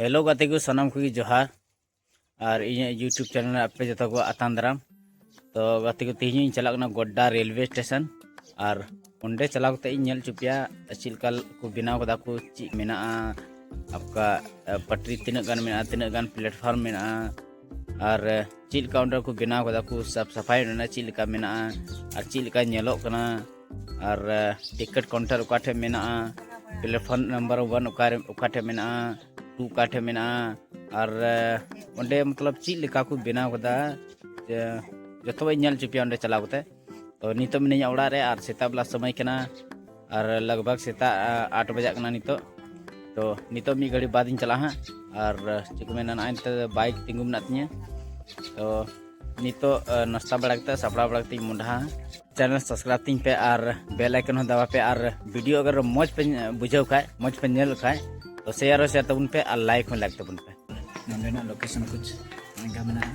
hello ᱜᱟᱛᱮ ᱠᱚ ᱥᱟᱱᱟᱢ ᱠᱚᱜᱮ ᱡᱚᱦᱟᱨ ᱟᱨ ᱤᱧᱟᱹᱜ ᱤᱭᱩᱴᱩᱵᱽ ᱪᱮᱱᱮᱞ ᱟᱯᱮ ᱡᱚᱛᱚ ᱠᱚ ᱟᱛᱟᱝ ᱫᱟᱨᱟᱢ ᱛᱚ ᱜᱟᱛᱮ ᱠᱚ ᱛᱮᱦᱮᱧ ᱤᱧ ᱪᱟᱞᱟᱜ ᱠᱟᱱᱟ ᱜᱚᱰᱰᱟ ᱨᱮᱞᱣᱮ ᱥᱴᱮᱥᱚᱱ ᱟᱨ ᱚᱸᱰᱮ ᱪᱟᱞᱟᱣ ᱠᱟᱛᱮ ᱤᱧ ᱧᱮᱞ ᱦᱚᱪᱚ ᱯᱮᱭᱟ ᱪᱮᱫ ᱞᱮᱠᱟ ᱠᱚ ᱵᱮᱱᱟᱣ ᱠᱟᱫᱟ ᱠᱚ ᱪᱮᱫ ᱢᱮᱱᱟᱜᱼᱟ ᱟᱯᱠᱟ ᱯᱟᱴᱨᱤ ᱛᱤᱱᱟᱹᱜ ᱜᱟᱱ ᱢᱮᱱᱟᱜᱼᱟ ᱛᱤᱱᱟᱹᱜ ᱜᱟᱱ ᱯᱞᱟᱴᱯᱷᱚᱨᱢ ᱢᱮᱱᱟᱜᱼᱟ ᱟᱨ ᱪᱮᱫ ᱞᱮᱠᱟ ᱚᱸᱰᱮ ᱠᱚ ᱵᱮᱱᱟᱣ ᱠᱟᱫᱟ ᱠᱚ ᱥᱟᱯ ᱥᱟᱯᱷᱟᱭ ᱨᱮᱱᱟᱜ ᱪᱮᱫ ᱞᱮᱠᱟ ᱢᱮᱱᱟᱜᱼᱟ ᱟᱨ ᱪᱮᱫ ᱞᱮᱠᱟ ᱧᱮᱞᱚᱜ ᱠᱟᱱᱟ ᱟᱨ ᱴᱤᱠᱤᱴ ᱠᱟᱣᱩᱱᱴᱟᱨ ᱚᱠᱟ ᱴᱷᱮᱱ ᱢᱮᱱᱟᱜᱼᱟ ᱯᱞᱮᱴᱯᱷᱚᱨᱢ ᱱᱟᱢᱵᱟᱨ ᱚᱣᱟᱱ ᱚᱠᱟᱨᱮ ᱚᱠᱟ ᱴᱷᱮᱱ ᱢᱮᱱᱟᱜᱼᱟ ᱴᱩ ᱚᱠᱟ ᱴᱷᱮᱱ ᱢᱮᱱᱟᱜᱼᱟ ᱟᱨ ᱚᱸᱰᱮ ᱢᱚᱛᱞᱚᱵ ᱪᱮᱫ ᱞᱮᱠᱟ ᱠᱚ ᱵᱮᱱᱟᱣ ᱠᱟᱫᱟ ᱡᱚᱛᱚᱣᱟᱜ ᱤᱧ ᱧᱮᱞ ᱦᱚᱪᱚ ᱯᱮᱭᱟ ᱚᱸᱰᱮ ᱪᱟᱞᱟᱣ ᱠᱟᱛᱮᱫ ᱛᱚ ᱱᱤᱛᱚᱜ ᱢᱤᱱᱟᱹᱧᱟ ᱚᱲᱟᱜ ᱨᱮ ᱟᱨ ᱥᱮᱛᱟᱜ ᱵᱮᱞᱟ ᱥᱚᱢᱚᱭ ᱠᱟᱱᱟ ᱟᱨ ᱞᱟᱜᱽ ᱵᱷᱟᱜᱽ ᱥᱮᱛᱟᱜ ᱟᱴ ᱵᱟᱡᱟᱜ ᱠᱟᱱᱟ ᱱᱤᱛᱚᱜ ᱛᱚ ᱱᱤᱛᱚᱜ ᱢᱤᱫ ᱜᱷᱟᱹᱲᱤᱡ ᱵᱟᱫ ᱤᱧ ᱪᱟᱞᱟᱜᱼᱟ ᱦᱟᱸᱜ ᱟᱨ ᱪᱮᱫ ᱠᱚ ᱢᱮᱱᱟ ᱱᱚᱜᱼᱚᱭ ᱱᱤᱛᱚᱜ ᱵᱟᱭᱤᱠ ᱛᱤᱸᱜᱩ ᱢᱮᱱᱟᱜ ᱛᱤᱧᱟᱹ ᱛᱚ ᱱᱤᱛᱚᱜ ᱱᱟᱥᱛᱟ ᱵᱟᱲᱟ ᱠᱟᱛᱮ ᱥᱟᱯᱲᱟᱣ ᱵᱟᱲᱟ ᱠᱟᱛᱮᱧ ᱢᱚᱰᱟᱦᱟ ᱪᱮᱱᱮᱞ ᱥᱟᱵᱥᱠᱨᱟᱭᱤᱵ ᱛᱤᱧ ᱯᱮ ᱟᱨ ᱵᱮᱞ ᱟᱭᱠᱚᱱ ᱦᱚᱸ ᱫᱟᱵᱟ ᱯᱮ ᱟᱨ ᱵᱷᱤᱰᱤᱭᱳ ᱟᱜᱟᱨ ᱢᱚᱡᱽ ᱯᱮ ᱵᱩᱡᱷᱟᱹᱣ ᱠᱷᱟᱡ ᱢᱚᱡᱽ ᱯᱮ ᱧᱮᱞ ᱠᱷᱟᱡ ᱛᱚ ᱥᱮᱭᱟᱨ ᱦᱚᱸ ᱥᱮᱭᱟᱨ ᱛᱟᱵᱚᱱ ᱯᱮ ᱟᱨ ᱞᱟᱭᱤᱠ ᱦᱚᱸ ᱞᱟᱭᱤᱠ ᱛᱟᱵᱚᱱ ᱯᱮ ᱱᱚᱸᱰᱮᱱᱟᱜ ᱞᱳᱠᱮᱥᱚᱱ ᱠᱩᱪ ᱢᱮᱱᱟᱜᱼᱟ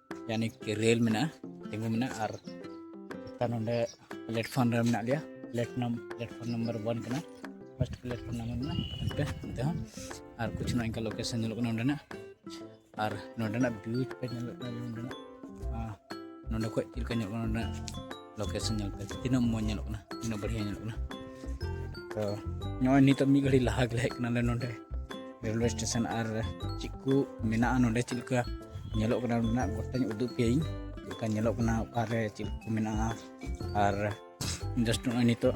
ᱭᱟᱱᱤ ᱠᱤ ᱨᱮᱞ ᱢᱮᱱᱟᱜᱼᱟ ᱛᱤᱸᱜᱩ ᱢᱮᱱᱟᱜᱼᱟ ᱟᱨ ᱛᱟᱨ ᱱᱚᱰᱮ ᱯᱞᱮᱴᱯᱷᱚᱨᱢ ᱨᱮ ᱢᱮᱱᱟᱜ ᱞᱮᱭᱟ ᱯᱞᱮᱴᱱᱟᱢ ᱯᱞᱮᱴᱯᱷᱚᱨᱢ ᱱᱟᱢᱵᱟᱨ ᱚᱣᱟᱱ ᱠᱟᱱᱟ ᱯᱷᱟᱥᱴ ᱯᱞᱮᱴᱯᱷᱚᱨᱢ ᱱᱟᱢᱵᱟᱨ ᱢᱮᱱᱟᱜᱼᱟ ᱱᱚᱛᱮ ᱱᱚᱛᱮ ᱦᱚᱸ ᱟᱨ ᱠᱩᱪᱷ ᱱᱚᱜᱼᱚ ᱱᱚᱝᱠᱟ ᱞᱳᱠᱮᱥᱚᱱ ᱧᱮᱞᱚᱜ ᱠᱟᱱᱟ ᱱᱚᱰᱮᱱᱟᱜ ᱟᱨ ᱱᱚᱰᱮᱱᱟᱜ ᱵᱷᱤᱭᱩ ᱯᱮ ᱧᱮᱞᱚᱜ ᱠᱟᱱᱟ ᱱᱚᱰᱮᱱᱟᱜ ᱱᱚᱰᱮ ᱠᱷᱚᱡ ᱪᱮᱫ ᱞᱮᱠᱟ ᱧᱮᱞᱚᱜ ᱠᱟᱱᱟ ᱱᱚᱰᱮᱱᱟᱜ ᱞᱳᱠᱮᱥᱚᱱ ᱧᱮᱞ ᱯᱮ ᱛᱤᱱᱟᱹᱜ ᱢᱚᱡᱽ ᱧᱮᱞᱚᱜ ᱠᱟᱱᱟ ᱛᱤᱱᱟᱹᱜ ᱵᱟᱹᱲᱤᱭᱟ ᱧᱮᱞᱚᱜ ᱠᱟᱱᱟ ᱛᱚ ᱱᱚᱜᱼᱚᱭ ᱱᱤᱛᱚᱜ ᱢᱤᱫ ᱜᱷᱟᱹᱲᱤᱡ ᱞᱟᱦᱟ ᱜᱮᱞᱮ ᱦᱮᱡ ᱠᱟᱱᱟᱞᱮ ᱱᱚᱰᱮ ᱨᱮᱞᱣᱮ ᱥᱴᱮᱥᱚᱱ ᱟᱨ ᱪᱮᱫ ᱠᱚ ᱢᱮᱱᱟᱜᱼᱟ ᱱᱚᱰᱮ ᱪᱮᱫ ᱞᱮᱠᱟ ᱧᱮᱞᱚᱜ ᱠᱟᱱᱟ ᱱᱚᱰᱮᱱᱟᱜ ᱜᱚᱴᱟᱧ ᱩᱫᱩᱜ ᱯᱮᱭᱟᱹᱧ ᱪᱮᱫ ᱞᱮᱠᱟ ᱧᱮᱞᱚᱜ ᱠᱟᱱᱟ ᱚᱠᱟᱨᱮ ᱪᱮᱫ ᱠᱚ ᱢᱮᱱᱟᱜᱼᱟ ᱟᱨ ᱡᱟᱥᱴ ᱱᱚᱜᱼᱚᱭ ᱱᱤᱛᱚᱜ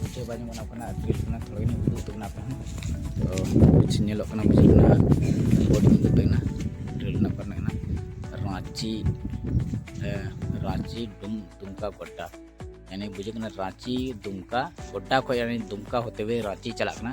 ᱵᱩᱡᱷᱟᱹᱣ ᱵᱟᱭ ᱧᱟᱢᱚᱜ ᱠᱟᱱᱟ ᱟᱹᱛᱩ ᱠᱟᱱᱟ ᱛᱷᱚᱲᱟ ᱜᱟᱱ ᱩᱫᱩᱜ ᱩᱛᱩᱜ ᱠᱟᱱᱟ ᱟᱯᱮ ᱦᱚᱸ ᱛᱚ ᱠᱩᱪᱷ ᱧᱮᱞᱚᱜ ᱠᱟᱱᱟ ᱵᱩᱡᱷᱟᱹᱜ ᱠᱟᱱᱟ ᱵᱚᱰᱤ ᱩᱫᱩᱜ ᱠᱟᱱᱟ ᱴᱨᱮᱞ ᱨᱮᱱᱟᱜ ᱠᱚᱨᱮ ᱠᱟᱱᱟ ᱨᱟᱺᱪᱤ ᱨᱟᱺᱪᱤ ᱰᱩᱢ ᱫᱩᱢᱠᱟ ᱜᱚᱰᱰᱟ ᱮᱱᱮ ᱵᱩᱡᱷᱟᱹᱜ ᱠᱟᱱᱟ ᱨᱟᱺᱪᱤ ᱫᱩᱢᱠᱟ ᱜᱚᱰᱰᱟ ᱠᱷᱚᱡ ᱫᱩᱢᱠᱟ ᱦᱚᱛᱮ ᱦᱩᱭᱮ ᱨᱟᱺᱪᱤ ᱪᱟᱞᱟᱜ ᱠᱟᱱᱟ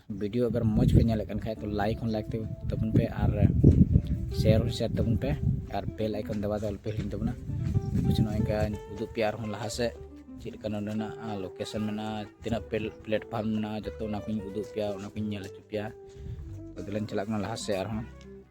ᱵᱷᱤᱰᱤᱭᱳ ᱟᱜᱟᱨ ᱢᱚᱡᱽ ᱯᱮ ᱧᱮᱞᱮᱫ ᱠᱟᱱ ᱠᱷᱟᱡ ᱛᱚ ᱞᱟᱭᱤᱠ ᱦᱚᱸ ᱞᱟᱭᱤᱠ ᱛᱟᱵᱚᱱ ᱯᱮ ᱟᱨ ᱥᱮᱭᱟᱨ ᱦᱚᱸ ᱥᱮᱭᱟᱨ ᱛᱟᱵᱚᱱ ᱯᱮ ᱟᱨ ᱵᱮᱞ ᱟᱭᱠᱚᱱ ᱫᱟᱵᱟ ᱫᱚ ᱟᱞᱚᱯᱮ ᱦᱤᱲᱤᱧ ᱛᱟᱵᱚᱱᱟ ᱠᱩᱪ ᱱᱚᱜᱼᱚᱭ ᱠᱟᱧ ᱩᱫᱩᱜ ᱯᱮᱭᱟ ᱟᱨᱦᱚᱸ ᱞᱟᱦᱟ ᱥᱮᱫ ᱪᱮᱫ ᱞᱮᱠᱟ ᱱᱚᱰᱮᱱᱟᱜ ᱞᱳᱠᱮᱥᱚᱱ ᱢᱮᱱᱟᱜᱼᱟ ᱛᱤᱱᱟᱹᱜ ᱯᱞᱮᱴᱯᱷᱟᱨᱢ ᱢᱮᱱᱟᱜᱼᱟ ᱡᱚᱛᱚ ᱚᱱᱟ ᱠᱚᱧ ᱩᱫᱩᱜ ᱯᱮᱭᱟ ᱚᱱᱟ ᱠᱚᱧ ᱧᱮᱞ ᱦᱚᱪᱚ ᱯᱮᱭᱟ ᱛᱚᱵᱮ ᱞᱟᱝ ᱪᱟᱞᱟᱜ ᱠᱟᱱᱟ ᱞᱟᱦᱟ ᱥᱮᱫ ᱟᱨᱦᱚᱸ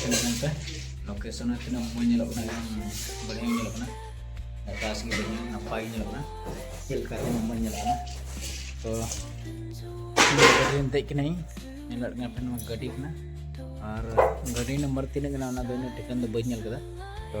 ᱛᱤᱱᱟᱹᱜ ᱞᱳᱠᱮᱥᱚᱱ ᱦᱚᱸ ᱛᱤᱱᱟᱹᱜ ᱢᱚᱡᱽ ᱧᱮᱞᱚᱜ ᱠᱟᱱᱟ ᱮᱠᱫᱚᱢ ᱵᱟᱹᱲᱤᱡ ᱧᱮᱞᱚᱜ ᱠᱟᱱᱟ ᱟᱠᱟᱥ ᱜᱮ ᱵᱟᱹᱲᱤᱡ ᱱᱟᱯᱟᱭ ᱜᱮ ᱧᱮᱞᱚᱜ ᱠᱟᱱᱟ ᱪᱮᱫ ᱞᱮᱠᱟ ᱛᱤᱱᱟᱹᱜ ᱢᱚᱡᱽ ᱧᱮᱞᱚᱜ ᱠᱟᱱᱟ ᱛᱚ ᱜᱟᱹᱰᱤ ᱫᱮᱡ ᱠᱟᱹᱱᱟᱹᱧ ᱧᱮᱞᱚᱜ ᱠᱟᱱᱟ ᱯᱷᱮᱱ ᱱᱚᱣᱟ ᱜᱟᱹᱰᱤ ᱠᱟᱱᱟ ᱟᱨ ᱜᱟᱹᱰᱤ ᱱᱟᱢᱵᱟᱨ ᱛᱤᱱᱟᱹᱜ ᱠᱟᱱᱟ ᱚᱱᱟ ᱫᱚ ᱤᱱᱟᱹᱜ ᱴᱷᱤᱠᱟᱹᱱ ᱫᱚ ᱵᱟᱹᱧ ᱧᱮᱞ ᱠᱟᱫᱟ ᱛᱚ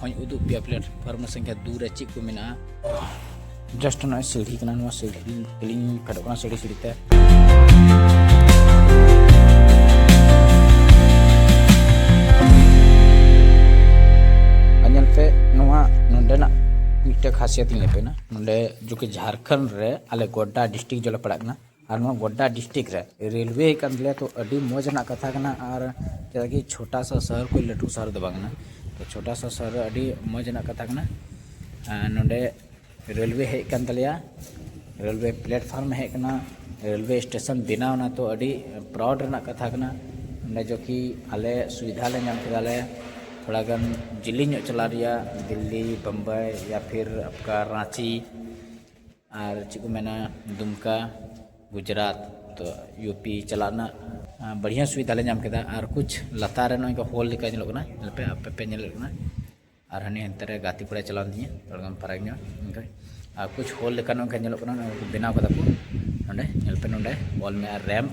ᱦᱚᱧ ᱩᱫᱩᱜ ᱯᱮᱭᱟ ᱯᱞᱟᱴᱯᱷᱚᱨᱢ ᱥᱚᱝᱠᱷᱟ ᱫᱩ ᱨᱮ ᱪᱮᱫ ᱠᱚ ᱢᱮᱱᱟᱜᱼᱟ ᱡᱟᱥᱴ ᱱᱚᱜᱼᱚᱭ ᱥᱤᱲᱦᱤ ᱠᱟᱱᱟ ᱱᱚᱣᱟ ᱥᱤᱲᱦᱤ ᱛᱮᱞᱤᱧ ᱯᱷᱮᱰᱚᱜ ᱠᱟᱱᱟ ᱥᱤᱲᱦᱤ ᱥᱤᱲᱦᱤ ᱛᱮ ᱧᱮᱞ ᱯᱮ ᱱᱚᱣᱟ ᱱᱚᱰᱮᱱᱟᱜ ᱢᱤᱫᱴᱮᱱ ᱠᱷᱟᱥᱤᱭᱟᱛ ᱤᱧ ᱞᱟᱹᱭ ᱯᱮ ᱠᱟᱱᱟ ᱱᱚᱰᱮ ᱡᱚᱠᱷᱚᱱ ᱡᱷᱟᱲᱠᱷᱚᱸᱰ ᱨᱮ ᱟᱞᱮ ᱜᱚᱰᱰᱟ ᱰᱤᱥᱴᱨᱤᱠ ᱡᱚᱞᱮ ᱯᱟᱲᱟᱜ ᱠᱟᱱᱟ ᱟᱨ ᱱᱚᱣᱟ ᱜᱚᱰᱰᱟ ᱰᱤᱥᱴᱨᱤᱠ ᱨᱮ ᱨᱮᱞᱣᱮ ᱠᱟᱱ ᱛᱟᱞᱮᱭᱟ ᱛᱚ ᱟᱹᱰᱤ ᱢᱚᱡᱽ ᱨᱮᱱᱟᱜ ᱠᱟᱛᱷᱟ ᱠᱟᱱᱟ ᱟᱨ ᱪᱮᱫᱟᱜ ᱠᱤ ᱪᱷᱳᱴᱟ ᱥᱟ ᱥᱚᱦᱚᱨ ᱠᱷᱚᱱ ᱞᱟᱹᱴᱩ ᱥᱚᱦᱚᱨ ᱫᱚ ᱵᱟᱝ ᱠᱟᱱᱟ ᱛᱚ ᱪᱷᱳᱴᱟ ᱥᱟ ᱥᱚᱦᱚᱨ ᱨᱮ ᱟᱹᱰᱤ ᱢᱚᱡᱽ ᱨᱮᱱᱟᱜ ᱠᱟᱛᱷᱟ ᱠᱟᱱᱟ ᱱᱚᱰᱮ ᱨᱮᱞᱣᱮ ᱦᱮᱡ ᱠᱟᱱ ᱛᱟᱞᱮᱭᱟ ᱨᱮᱞᱣᱮ ᱯᱞᱮᱴᱯᱷᱚᱨᱢ ᱦᱮᱡ ᱠᱟᱱᱟ ᱨᱮᱞᱣᱮ ᱥᱴᱮᱥᱚᱱ ᱵᱮᱱᱟᱣ ᱮᱱᱟ ᱛᱚ ᱟᱹᱰᱤ ᱯᱨᱟᱣᱩᱰ ᱨᱮᱱᱟᱜ ᱠᱟᱛᱷᱟ ᱠᱟᱱᱟ ᱱᱚᱰᱮ ᱡᱚ ᱠᱤ ᱟᱞᱮ ᱥᱩᱵᱤᱫᱷᱟ ᱞᱮ ᱧᱟᱢ ᱠᱮᱫᱟ ᱞᱮ ᱛᱷᱚᱲᱟ ᱜᱟᱱ ᱡᱤᱞᱤᱧ ᱧᱚᱜ ᱪᱟᱞᱟᱜ ᱨᱮᱭᱟᱜ ᱫᱤᱞᱞᱤ ᱵᱳᱢᱵᱟᱭ ᱭᱟ ᱯᱷᱤᱨ ᱟᱯᱠᱟ ᱨᱟᱺᱪᱤ ᱟᱨ ᱪᱮᱫ ᱠᱚ ᱢᱮᱱᱟ ᱫᱩᱢᱠᱟ ᱜᱩᱡᱽᱨᱟᱴ ᱛᱚ ᱤᱭᱩ ᱯᱤ ᱪᱟᱞᱟᱜ ᱨᱮᱱᱟᱜ ᱵᱟᱲᱦᱤᱭᱟ ᱥᱩᱵᱤᱫᱷᱟ ᱞᱮ ᱧᱟᱢ ᱠᱮᱫᱟ ᱟᱨ ᱠᱩᱪ ᱞᱟᱛᱟᱨ ᱨᱮ ᱱᱚᱜᱼᱚᱸᱭ ᱱᱚᱝᱠᱟ ᱦᱳᱞ ᱞᱮᱠᱟ ᱧᱮᱞᱚᱜ ᱠᱟᱱᱟ ᱧᱮᱞᱯᱮ ᱟᱯᱮ ᱯᱮ ᱧᱮᱞᱮᱫ ᱠᱟᱱᱟ ᱟᱨ ᱦᱟᱱᱮ ᱦᱟᱱᱛᱮ ᱨᱮ ᱜᱟᱛᱮ ᱠᱚᱲᱟᱭ ᱪᱟᱞᱟᱣᱮᱱ ᱛᱤᱧᱟᱹ ᱛᱷᱚᱲᱟ ᱜᱟᱱ ᱯᱷᱟᱨᱟᱠ ᱧᱚᱜ ᱚᱱᱠᱟ ᱟᱨ ᱠᱩᱪ ᱦᱳᱞ ᱞᱮᱠᱟ ᱱᱚᱝᱠᱟ ᱧᱮᱞᱚᱜ ᱠᱟᱱᱟ ᱱᱚᱜᱼᱚᱸᱭ ᱠᱚ ᱵᱮᱱᱟᱣ ᱠᱟᱫᱟ ᱠᱚ ᱱᱚᱰᱮ ᱧᱮᱞ ᱯᱮ ᱱᱚᱰᱮ ᱚᱞ ᱢᱮᱱᱟᱜᱼᱟ ᱨᱮᱢᱯ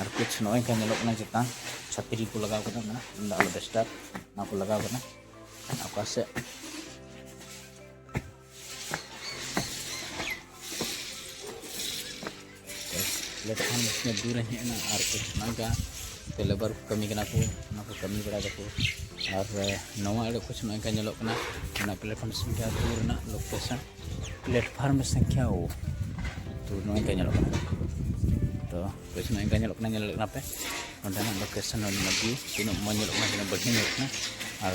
ᱟᱨ ᱠᱩᱪ ᱱᱚᱜᱼᱚᱭ ᱠᱟ ᱧᱮᱞᱚᱜ ᱠᱟᱱᱟ ᱪᱮᱛᱟᱱ ᱪᱷᱟᱛᱨᱤ ᱠᱚ ᱞᱟᱜᱟᱣ ᱠᱟᱫᱟ ᱢᱮᱱᱟᱜ ᱤᱧ ᱫᱚ ᱟᱞᱚ ᱰᱮᱥᱴᱟᱨ ᱚᱱᱟ ᱠᱚ ᱞᱟᱜᱟᱣ ᱠᱟᱫᱟ ᱚᱠᱟ ᱥᱮᱫ ᱞᱮᱠᱷᱟᱱ ᱢᱚᱡᱽᱫᱩᱨᱮ ᱦᱮᱡ ᱮᱱᱟ ᱟᱨ ᱠᱚ ᱥᱮᱱᱚᱜᱼᱟ ᱛᱮ ᱞᱮᱵᱟᱨ ᱠᱚ ᱠᱟᱹᱢᱤ ᱠᱟᱱᱟ ᱠᱚ ᱚᱱᱟ ᱠᱚ ᱠᱟᱹᱢᱤ ᱵᱟᱲᱟᱭ ᱫᱟᱠᱚ ᱟᱨ ᱱᱚᱣᱟ ᱮᱲᱮ ᱠᱚ ᱥᱮᱱᱚᱜ ᱠᱟᱱᱟ ᱧᱮᱞᱚᱜ ᱠᱟᱱᱟ ᱚᱱᱟ ᱯᱞᱮᱴᱯᱷᱚᱨᱢ ᱥᱚᱝᱠᱷᱟ ᱫᱩ ᱨᱮᱱᱟᱜ ᱞᱳᱠᱮᱥᱚᱱ ᱯᱞᱮᱴᱯᱷᱚᱨᱢ ᱥᱚᱝᱠᱷᱟ ᱳ ᱛᱚ ᱱᱚᱣᱟ ᱠᱚ ᱧᱮᱞᱚᱜ ᱠᱟᱱᱟ ᱛᱚ ᱠᱚ ᱥᱮᱱᱚᱜ ᱠᱟᱱᱟ ᱧᱮᱞᱚᱜ ᱠᱟᱱᱟ ᱧᱮᱞ ᱠᱟᱱᱟ ᱯᱮ ᱚᱸᱰᱮᱱᱟᱜ ᱞᱳᱠᱮᱥᱚᱱ ᱚᱸᱰᱮᱱᱟᱜ ᱵᱷᱤᱭᱩ ᱛᱤᱱᱟᱹᱜ ᱢᱚᱡᱽ ᱧᱮᱞᱚᱜ ᱠᱟᱱᱟ ᱛᱤᱱᱟᱹᱜ ᱵᱟᱹᱲᱛᱤ ᱧᱮᱞᱚᱜ ᱠᱟᱱᱟ ᱟᱨ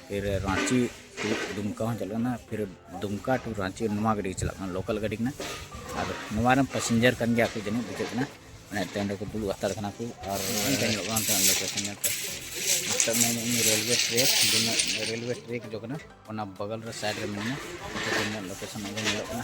ᱯᱷᱤᱨ ᱨᱟᱺᱪᱤ ᱫᱩᱢᱠᱟ ᱦᱚᱸ ᱪᱟᱞᱟᱜ ᱠᱟᱱᱟ ᱯᱷᱤᱨ ᱫᱩᱢᱠᱟ ᱴᱩ ᱨᱟᱺᱪᱤ ᱱᱚᱣᱟ ᱜᱟᱹᱰᱤ ᱪᱟᱞᱟᱜ ᱠᱟᱱᱟ ᱞᱳᱠᱟᱞ ᱜᱟᱹᱰᱤ ᱠᱟᱱᱟ ᱟᱨ ᱱᱚᱣᱟ ᱨᱮᱱ ᱯᱮᱥᱮᱧᱡᱟᱨ ᱠᱟᱱ ᱜᱮᱭᱟ ᱠᱚ ᱡᱟᱹᱱᱤᱡ ᱵᱩᱡᱷᱟᱹᱜ ᱠᱟᱱᱟ ᱢᱟᱱᱮ ᱴᱨᱮᱱ ᱨᱮᱠᱚ ᱫᱩᱲᱩᱵ ᱦᱟᱛᱟᱲ ᱠᱟᱱᱟ ᱠᱚ ᱟᱨ ᱚᱱᱛᱮ ᱧᱮᱞᱚᱜ ᱠᱟᱱᱟ ᱚᱱᱛᱮᱱᱟᱜ ᱞᱳᱠᱮᱥᱚᱱ ᱧᱮᱞ ᱯᱮ ᱱᱤᱛᱚᱜ ᱢᱮᱱᱮᱫ ᱤᱧ ᱨᱮᱞᱣᱮ ᱴᱨᱮᱠ ᱨᱮᱞᱣᱮ ᱴᱨᱮᱠ ᱫᱚ ᱠᱟᱱᱟ ᱚᱱᱟ ᱵᱚᱜᱚᱞ ᱨᱮ ᱥᱟᱭᱤᱰ ᱨᱮ ᱢᱮᱱᱟᱜᱼᱟ ᱞᱳᱠᱮᱥᱚᱱ ᱚᱸᱰᱮ ᱧᱮᱞᱚᱜ ᱠᱟᱱᱟ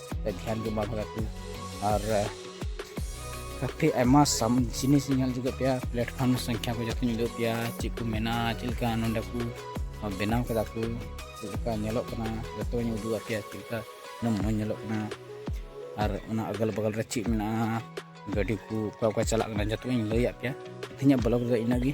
ᱫᱷᱮᱭᱟᱱ ᱜᱮ ᱵᱟᱝ ᱞᱟᱜᱟᱜ ᱠᱟᱱᱟ ᱟᱨ ᱠᱟᱹᱯᱷᱤ ᱟᱭᱢᱟ ᱥᱟᱢ ᱡᱤᱱᱤᱥ ᱧᱮᱞ ᱡᱩᱜᱟᱹᱜ ᱯᱮᱭᱟ ᱯᱞᱟᱴᱯᱷᱚᱨᱢ ᱥᱚᱝᱠᱷᱟ ᱠᱚ ᱡᱚᱛᱚᱧ ᱩᱫᱩᱜ ᱯᱮᱭᱟ ᱪᱮᱫ ᱠᱚ ᱢᱮᱱᱟᱜᱼᱟ ᱪᱮᱫ ᱞᱮᱠᱟ ᱱᱚᱰᱮ ᱠᱚ ᱵᱮᱱᱟᱣ ᱠᱮᱫᱟ ᱠᱚ ᱪᱮᱫ ᱞᱮᱠᱟ ᱧᱮᱞᱚᱜ ᱠᱟᱱᱟ ᱡᱚᱛᱚᱧ ᱩᱫᱩᱜ ᱟᱯᱮᱭᱟ ᱪᱮᱫ ᱞᱮᱠᱟ ᱩᱱᱟᱹᱜ ᱢᱚᱡᱽ ᱧᱮᱞᱚᱜ ᱠᱟᱱᱟ ᱟᱨ ᱚᱱᱟ ᱟᱜᱚᱞ ᱵᱟᱜᱚᱞ ᱨᱮ ᱪᱮᱫ ᱢᱮᱱᱟᱜᱼᱟ ᱜᱟᱹᱰᱤ ᱠᱚ ᱚᱠᱟ ᱚᱠᱟ ᱪᱟᱞᱟᱜ ᱠᱟᱱᱟ ᱡᱚᱛᱚᱧ ᱞᱟᱹᱭᱟᱫ ᱯᱮᱭᱟ ᱛᱮᱦᱮᱧᱟᱜ ᱵᱞᱚᱜᱽ ᱫᱚ ᱤᱱᱟᱹᱜ ᱜᱮ